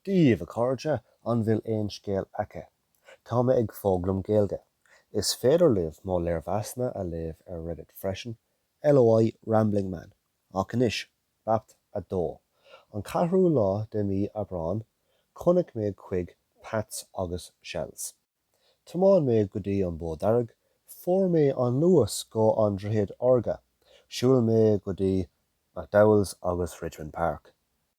Daoibh a chairde, an bhfuil aon scéal agaibh? Tá mé ag foghlaim Gaeilge. Is féidir libh mo léirmheasanna a léamh ar Reddit freisin, LOI Rambling Man. Ach anois, Babhta 2. An ceathrú lá de mhí Aibreáin, chonaic mé chuig Pats agus Shells. Thiomáin mé go dtí an Bó Dearg, fuair mé an Luas go An Droichead Órga, shiúil mé go dtí McDowell's agus Richmond Park.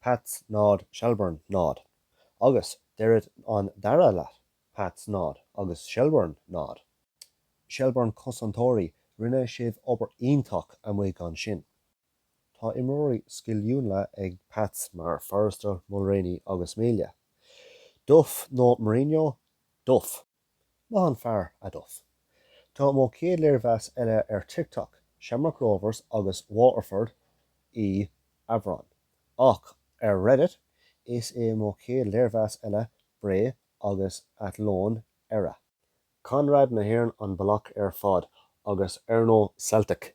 Pats 0, Shelbourne 0, agus deireadh an dara leath, Pats 0 agus Shelbourne 0, Shelbourne Cosantóirí, rinne sibh obair iontach amuigh ansin. Tá imreoirí sciliúla ag Pats mar Forrester, Mulraney agus Melia. Duff nó Mourinho? Duff! Maith an fear, a Duff. Tá mo chéad léirmheas eile ar TikTok, Shamrock Rovers agus Waterford i Aibreán. Ach ar Reddit, is é mo chéad léirmheas eile Bray agus Athlone era. Conradh na hÉireann an bealach ar fad, agus Erno Celtic!